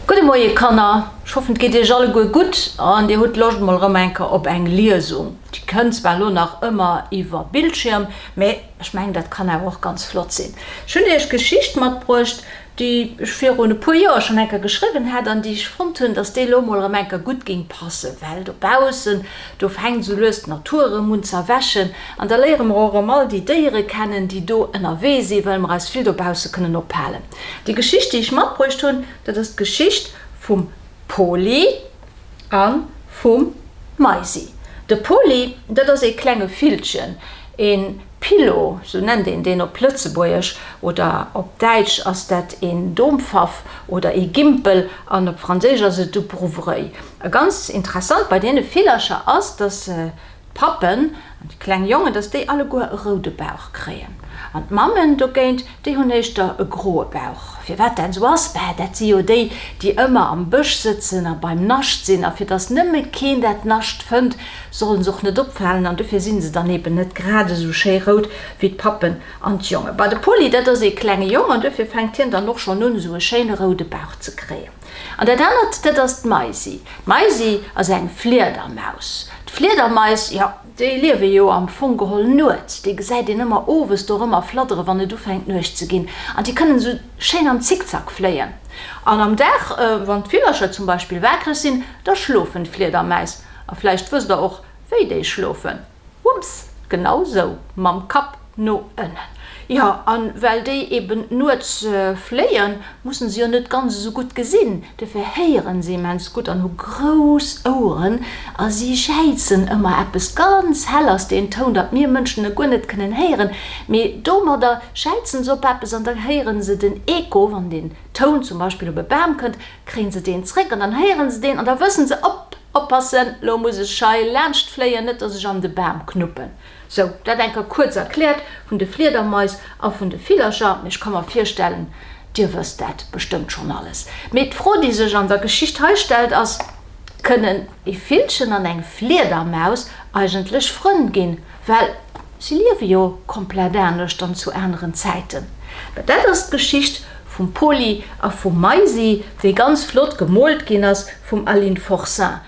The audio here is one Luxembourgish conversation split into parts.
Gudde Moie Kanner, ech hoffen et geet iech alleguer gutt an dir hutt Loscht mol erëm eng Kéier op eng Liesung. Déi kënnt zwar elo nach ëmmer iwwer Bildschierm, mä ech mengen dat kann awer och ganz flott sinn. Ech hunn iech Geschicht matbruecht, déi ech virun e puer Joer schonn eng Kéier geschriwwen hat an déi ech fonnt hunn, datt déi elo emol erëm eng Kéier gutt géing passen, well dobaussen, do fänkt esou lues d'Natur erëm un z'erwächen an da léiere mer och erëm all déi Déiere kennen, déi do ënnerwee sinn, well mer eis vill dobausse kënnen ophalen. Déi Geschicht, déi ech matbruecht hunn, dat ass d'Geschicht vum Poli a vum Maisi. De Poli, dat ass ee klenge Villchen, een. Pillow, sou nennt een deen op Lëtzebuergesch, oder op Däitsch ass dat een Dompfaff oder ee Gimpel an op Franséisch ass et du Brouwerei. A ganz interessant bei deene Villercher ass, datt d'Pappen an déi kleng Jongen, datt déi alleguer e roude Bauch kréien an d'Mammen dogéint Déi hunn éischter e groe Bauch. Firwat dat esou ass? Bäh, dat si jo déi, déi ëmmer am Bësch sëtzen a beim Nascht sinn. A fir datt nëmme keen dat Nascht fënnt, solle se och net opfalen. An dofir si se dann eben net grad esou schéi rout wéi d'Pappen an d'Jongen. Bah, de Poli, dat ass ee klenge Jong an dofir fänkt hien dann och schonn un, esou e schéine roude Bauch ze kréien. An dat anert, dat ass d'Maisi. D'Maisi ass eng Fliedermaus. D'Fliedermais, jo, Déi liewe jo am Fong geholl nuets. Déi gesäit een ëmmer owes do erëmmer fladdere wann et ufänkt Nuecht ze ginn. An déi kënnen esou schéin am Zickzack fléien. An am Dag, wann d'Villercher zum Beispill waakreg sinn, da schlofen d'Fliedermäis. A vläicht wësst der och, wéi déi schlofen. Wumms! Genau sou! Mam Kapp! No ënnen. Jo, a well déi eben nuets fléien, musse se jo net ganz esou gutt gesinn. Dofir héiere se immens gutt an hu grouss Oueren a si jäizen ëmmer eppes ganz hell. Ass deen Toun, datt mir Mënschen e guer net kënnen héieren, mee domadder jäizen se op eppes an da héiere se den Echo. Wann deen Toun zum Beispill op e Bam kënnt, kréie se deen zeréck an dann héiere se deen an da wësse se, Op, oppassen, lo muss ech hei laanscht fléien, net datt ech an de Bam knuppen. Sou, dat enker kuerz erkläert vun de Fliedermais a vun de Villercher. Mee ech ka mer virstellen, Dir wësst dat bestëmmt schonn alles. Mee d'Fro, déi sech an der Geschicht hei stellt, ass, Kënnen e Villchen an eng Fliedermaus eigentlech Frënn ginn? Well si liewe jo komplett anescht an zu aneren Zäiten. Mä dat ass d'Geschicht vum Poli a vum Maisi, déi ganz flott gemoolt ginn ass vum Aline Forcin.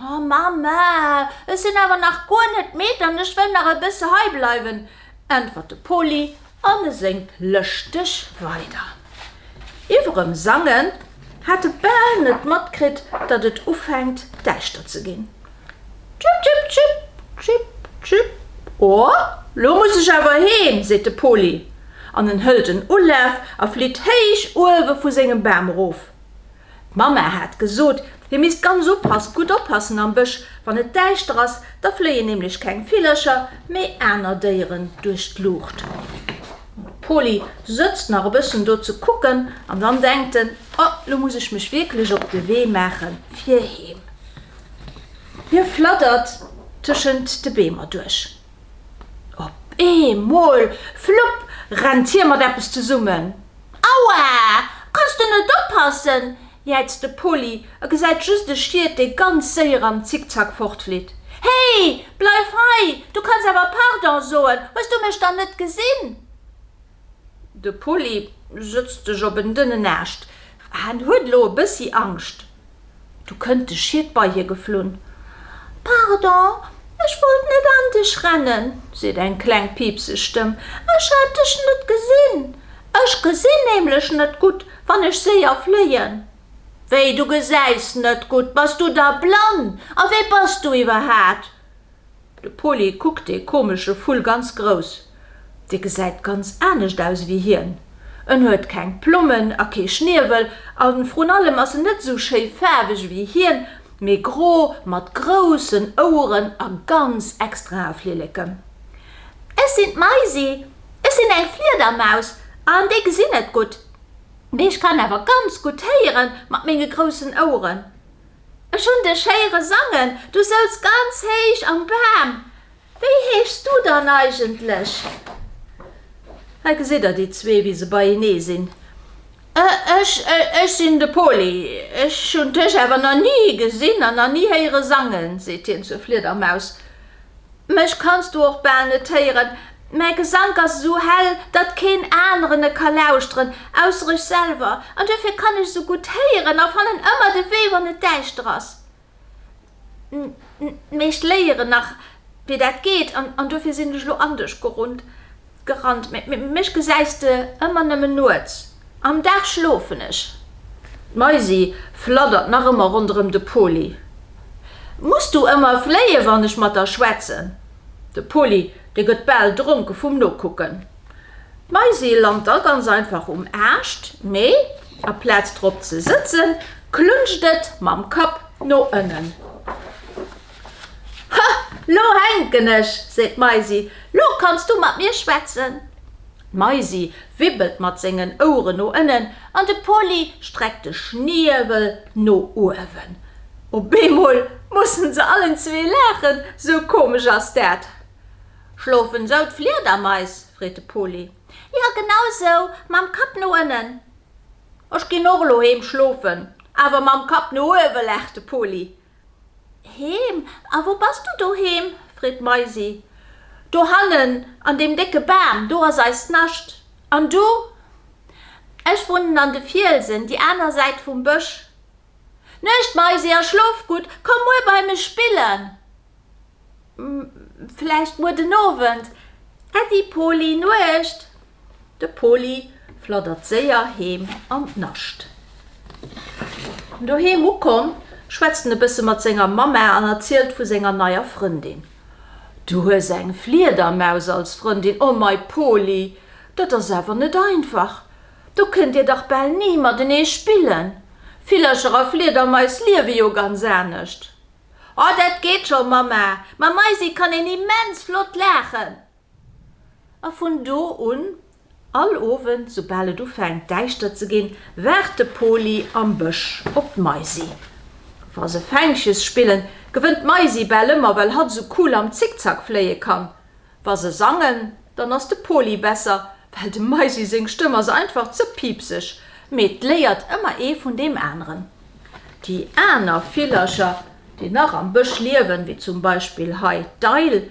O Mama, ech sinn awer nach guer net midd an ech wëll nach e bësse hei bleiwen, äntwert de Poli an e séngt lëschteg weider. Iwwerem Sangen hat e bal net matkritt, datt et ufänkt däischter ze ginn. Tschip, tschip, tschip, tschip, tschip. O, lo muss ech awer heem, seet de Poli an en hëlt en Ulaf a flitt héich uewe vu sengem Bam erof. D'Mama hat gesot, hie misst ganz oppassen, gutt oppassen am Bësch, wann et däischter ass, da fléien nämlech keng Villercher, mee aner Déieren duerch d'Luucht. D'Poly sëtzt nach e bëssen do ze kucken an dann denkt en, Oh, lo muss ech mech wierklech op de Wee maachen, fir heem. Hie flattert tëschent de Beemer duerch. Op eemol, flupp, rennt hie mat eppes zesummen. Aua! Kanns du net oppassen? jäizt de Poly a gesäit just e Schiet, dee ganz séier am Zickzack fortflitt. Hey! Bleif hei! Du kanns awer Pardon soen! Hues du mech dann net gesinn? De Pulli sëtzt sech op en dënnen Aascht. Hen huet elo e bëssi Angscht. Du kënnt de Schied bei hie geflunn. Pardon, ech wollt net an dech rennen, seet eng kleng piipseg Stëmm. Ech hat dech net gesinn. Ech gesinn nämlech net gutt, wann ech séier fléien. Wéi, du gesäis net gutt? Bass du da blann? A wee bass du iwwerhat? De Poli kuckt dee komesche Vull ganz grouss. Dee gesäit ganz anescht aus ewéi hien. En huet keng Plommen a kee Schniewel a vrun allem ass en net esou schéi faarweg ewéi hien, mee gro mat groussen Oueren a ganz extrae Flilleken. Ech sinn d'Maisi. Ech sinn eng Fliedermaus an déi gesinn net gutt. Mee ech kann awer ganz gutt héieren mat menge groussen Oueren. Ech hunn dech héiere sangen, du souz ganz héich am Bam. Wéi heeschs du dann eigentlech? Hei gesitt der déi zwee, wéi se beienee sinn. Ech, ech sinn de Poli. Ech hunn dech awer nach ni gesinn an nach ni héiere sangen, seet hien zur Fliedermaus. Mech kanns du och bal net héieren, mäi Gesank ass esou hell, datt keen aneren e ka lauschteren, ausser ech selwer. An duerfir kann ech esou gutt héieren a fannen ëmmer de Wee, wann et däischter ass. D'Meescht léieren nach, wéi dat geet, an duerfir sinn ech elo anescht gerunnt. Gerannt, mee mech gesäis de ëmmer nëmmen nuets, am Dag schlofen ech. D'Maisi fladdert nach ëmmer ronderëm de Poli. Muss du ëmmer fléien, wann ech mat der schwätzen? De Poli, dee gëtt bal dronke vum Nokucken. D'Maisi lant da ganz einfach um Aascht, mee a Plaz drop ze sëtzen, klunscht et mam Kapp no ënnen. Ha! Lo hänken ech, seet d'Maisi. Lo kanns du mat mir schwätzen. D'Maisi wibbelt mat sengen Oueren no ënnen an de Poly streckt de Schniewel no uewen. Op eemol mussen se allen zwee laachen, sou komesch ass dat. Schlofen esou d'Fliedermais? freet de Poly. Jo, genau sou, mam Kapp no ënnen. Ech ginn och elo heem schlofen, awer mam Kapp no uewen, laacht de Poly. Heem? A wou bass du doheem? freet d'Maisi. Dohannen an deem décke Bam, do ass eist Nascht. An du? Ech wunnen an de Fielsen, déi aner Säit vum Bësch. Nuecht, Maisi, a schlof gutt. Komm muer bei mech spillen. Vläicht muer den Owend. Äddi, Poli, Nuecht. De Poli fladdert séier heem an d'Nascht. Doheem ukomm, schwätzt en e bësse mat senger Mamma an erzielt vu senger neier Frëndin. Du hues eng Fliedermaus als Frëndin? O mei Poli, dat ass awer net einfach. Do kënnt dir dach bal ni matenee spillen. Villercher a Fliedermais liewe jo ganz anescht. O, dat geet scho, Mamma. Mam Maisi kann een immens flott laachen. A vun do un, all Owend, soubal et ufänkt däischter ze ginn, waart de Poli am Bësch op d'Maisi. Wa se Fänkches spillen, gewënnt d'Maisi bal ëmmer, well hatt esou cool am Zickzack fléie kann. Wa se sangen, dann ass de Poli besser, well dem Maisi seng Stëmm ass einfach ze piipseg. Mee et léiert ëmmer ee vun deem aneren. Déi aner Villercher, déi nach am Bësch liewen, wéi zum Beispill hei d'Eil,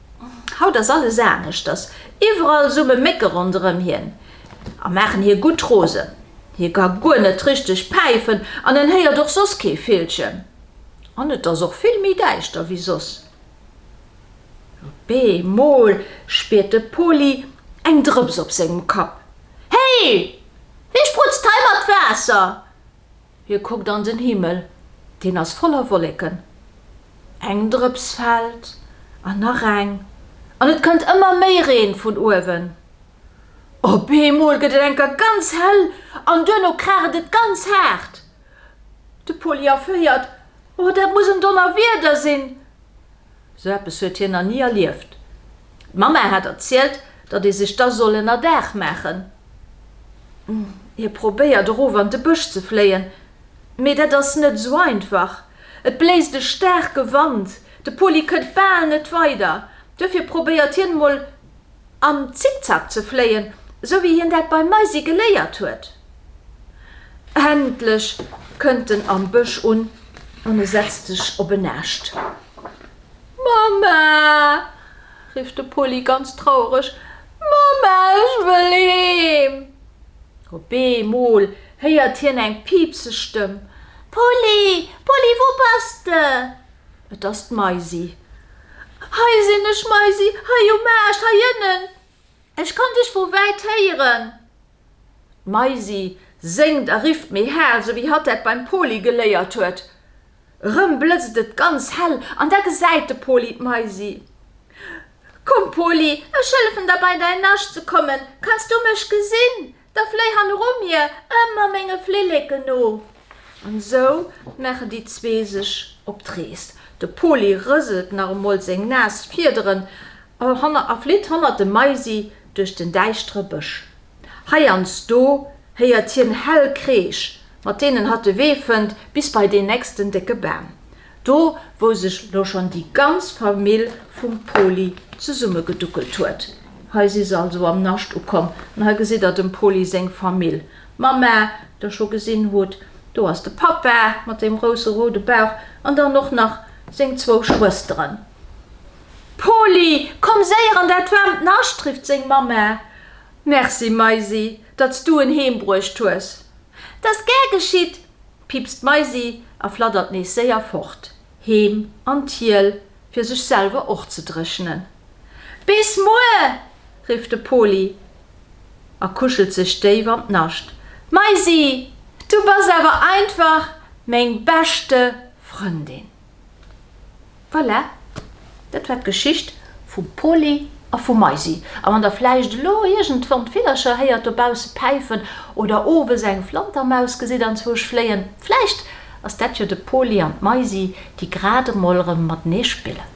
Haut ass alles aneschters, iwwerall summe Mécke ronderëm hien a maachen hie gutt rosen. Hie ka guer net richteg päifen an en héiert och soss kee Villchen. An et ass och vill méi däischter wéi soss. Op eemol spiert de Poli eng Drëps op sengem Kapp. Héi! Wie sprutzt hei mat Waasser? Hie kuckt an den Himmel, deen ass voller Wolleken. Eng Drëps fält, an nach eng, an et kënnt ëmmer méi Reen vun uewen. Op eemol gëtt et enker ganz hell an duerno kraacht et ganz haart. De Poly erféiert, Oh, dat muss en Donnerwieder sinn! Sou eppes huet hien nach ni erlieft. D'Mamma hat erzielt, datt ee sech da soll ënner Daach maachen. Hie probéiert erof an de Bësch ze fléien, mee dat ass net esou einfach. Et bléist e staarke Wand, de Poli kënnt bal net weider. Duerfir probéiert hien emol. Am Zickzack ze fléien, sou wéi hien dat beim Maisi geléiert huet. Endlech kënnt en am Bësch un an e setzt sech op en Aascht. Mamma! rifft de Poli ganz trauereg. Mamma, ech wëll heem! Op eemol héiert hien eng piipseg Stëmm. Poli, Poli, wou bass de? Et ass d'Maisi. Hei sinn ech, Maisi, hei um Aascht hei ënnen. Ech kann dech vu wäit héieren. D'Maisi séngt a rifft méi hal, sou wéi hatt dat beim Poli geléiert huet. Erëm blëtzt et ganz hell an da gesäit de Poli d'Maisi. Komm, Poli, ech hëllefen der bei däin Nascht ze kommen. Kanns du mech gesinn? Da fléi han eru mir, ëmmer menge Flilleken no. An esou maachen déi zwee sech op d'Rees. De Poli rëselt nach emol seng naass Fiederen a flitt hannert dem Maisi duerch den däischtere Bësch. Heiansdo héiert hien hell Kreesch, mat deenen hatt de Wee fënnt bis bei deen nächsten décke Bam. Do wou sech lo schon déi ganz Famill vum Poli zesummegeduckelt huet. Hei si se also am Nascht ukomm. An hei gesitt der dem Poli seng Famill. D'Mamma, déi der scho gesinn hutt. Do ass de Pappa mat deem grousse roude Bauch. An dann och nach seng zwou Schwësteren. Poli, komm séier an dat waarmt Nascht! rifft seng Mamma. Merci Maisi, datt s du en heembruecht hues. Dat ass gär geschitt, piipst d'Maisi a flattert nees séier fort, heem an d'Hiel, fir sech selwer och ze dréchnen. Bis muer! rifft de Poli a kuschelt sech déif an d'Nascht. Maisi, du bass awer einfach meng beschte Frëndin! Voilà, dat war d'Geschicht vum Poli a vum Maisi. A wann der vläicht elo iergendwann d'Villercher héiert dobausse päifen oder owes eng Flantermaus gesitt anzwousch fléien, vläicht ass dat jo de Poli an d'Maisi, déi grad emol erëm matenee spillen.